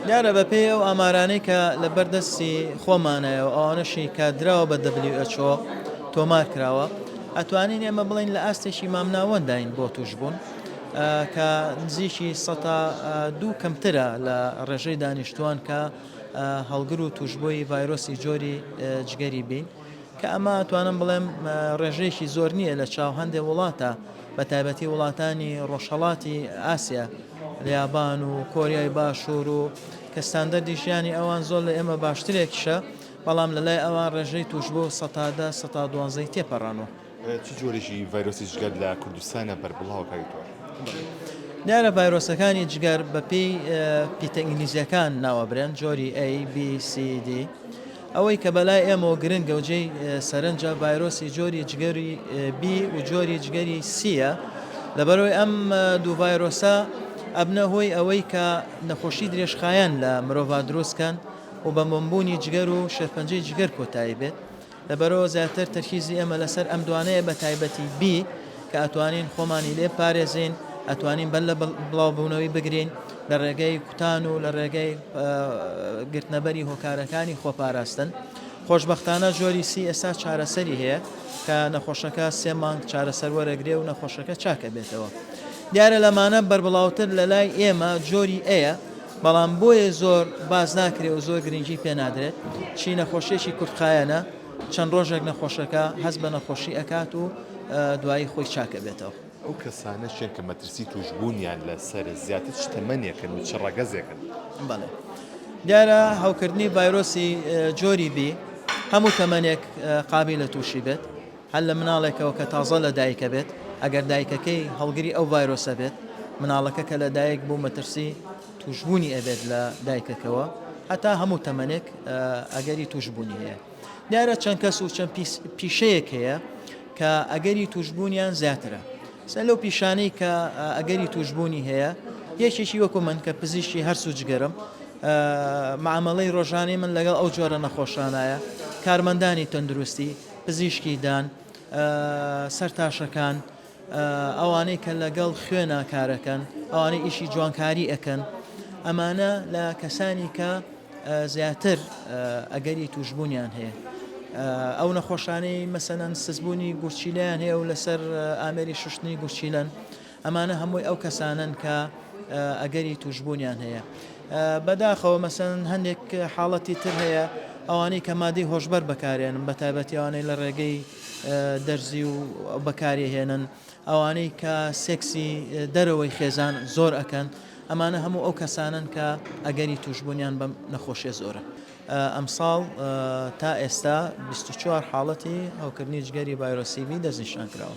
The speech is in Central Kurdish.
دیارە بەپێی ئەو ئامارانەی کە لەبەر دەستی خۆمانایە و ئەوانەشی کە دراوە بە WHO تۆمار کراوە ئەتوانین ئێمە بڵین لە ئاستێکی مامناوەنداین بۆ توشبوون کە نزیکی سە دوو کەمترە لە ڕێژەی دانیشتوان کە هەڵگر و توشببووی ڤایرۆسی جۆری جگەری بین کە ئەمە توانم بڵێم ڕێژەیەکی زۆر نییە لە چاو هەندێک وڵاتە بە تایبەتی وڵاتانی ڕۆژهڵاتی ئاسیا یابان و کۆریای باشوور و کە ستاندەردی ژیانی ئەوان زۆر لە ئێمە باشترێکیشە، بەڵام لە لای ئەوان ڕێژەی تووشبوو سەتا دە، سەتا دوانزە ی تێپەڕاندووە. چ جۆرێکی ڤایرۆسی جگەر لە کوردستانە بەربڵاوە کاک دکتۆر؟ دیارە ڤایرۆسەکانی جگەر بە پێی پیتە ئینگلیزییەکان ناوئەبرێن، جۆری A، B، C، D، ئەوەی کە بەلای ئێمەوە گرنگە و جێی سەرنجە ڤایرۆسی جۆری جگەری بی و جۆری جگەری سییە، لەبەرئەوەی ئەم دوو ڤایرۆسە ئەبنە هۆی ئەوەی کە نەخۆشی درێژخایەن لە مرۆڤا دروست کەن و بە مۆمبوونی جگەر و شێرپەنجەی جگەر کۆتایی بێت، لەبەرئەوە زیاتر تەرکیزی ئێمە لەسەر ئەم دوانەیە بەتایبەتی بی. کە ئەتوانین خۆمانی لێ بپارێزین، ئەتوانین بەر لە بڵاوبوونەوەی بگرین لە ڕێگەی کوتان و لە ڕێگەی گرتنەبەری هۆکارەکانی خۆپاراستن. خۆشببختانە جۆری سی ئێستا چارەسەری هەیە کە نەخۆشەکە سێ مانگ چارەسەر وەرەگرێ و نەخۆشەکە چاکە بێتەوە. دیارە لەمانە بەربڵاوتر لە لای ئێمە جۆری ئەیە بەڵام بۆیە زۆر باز ناکرێ و زۆر گرنگی پێنادرێت چی نەخۆشیێکی کورتخایەنە چەند ڕۆژێک نەخۆشەکە هەست بە نەخۆشی ئەکات و دوایی خۆی چاک ئەبێتەوە. ئەو کەسانە چیان کە مەترسی تووشبوونیان لەسەرە، زیاتر چ تەمەنێکن و چ ڕەگەزێکن؟ بەڵێ دیارە هەوکردنی ڤایرۆسی جۆری بی هەموو تەمەنێک قابی لە تووشی بێت هەر لە مناڵێکەوە کە تازە لە دایکە بێت ئەگەر دایکەکەی هەڵگری ئەو ڤایرۆسە بێت مناڵەکە کە لە دایک بوو مەترسی توشبوونی ئەبێت لە دایکەکەوە هەتا هەموو تەمەنێک ئەگەری توشبوونی هەیە دیارە چەند کەس و چەند پیشەیەک هەیە کە ئەگەری توشبوونیان زیاترە سەر لەو پیشانەی کە ئەگەری توشبوونی هەیە یەکێکی وەکو من کە پزیشتی هەرسو جگەرم معاملەی ڕۆژانی من لەگەڵ ئەو جۆرە نەخۆشانایە کارمەندانی تەندروستی پزیشکی دان سەرتاشەکان ئەوانەی کە لەگەڵ خوێنا کارەکەن ئەوانەی ئیشی جوانکاری ئەکەن ئەمانە لە کەسانی کە زیاتر ئەگەری توشببوونیان هەیە ئەو نەخۆشانەی مەسەەن سزبوونی گورچیلیان هەیە و لەسەر ئامێری شوشتنی گورچیلەن ئەمانە هەمووی ئەو کەسانن کە ئەگەری توشببوونیان هەیە بەداخەوە مەسەن هەندێک حاڵەتی تر هەیە ئەوانەی کە مادەی هۆشبەر بەکارێنم بە تایبەتیوانەی لە ڕێگەی دەرزی و بەکاری ئەهێنن ئەوانەی کە سێکسی دەرەوەی خێزان زۆر ئەکەن ئەمانە هەموو ئەو کەسانن کە ئەگەری توشببوونیان بەم نەخۆشیە زۆرە ئەمساڵ تا ئێستا 24 حاڵەتی هەوکردنی جگەری ڤایرۆسیبی دەستنیشان کراوە.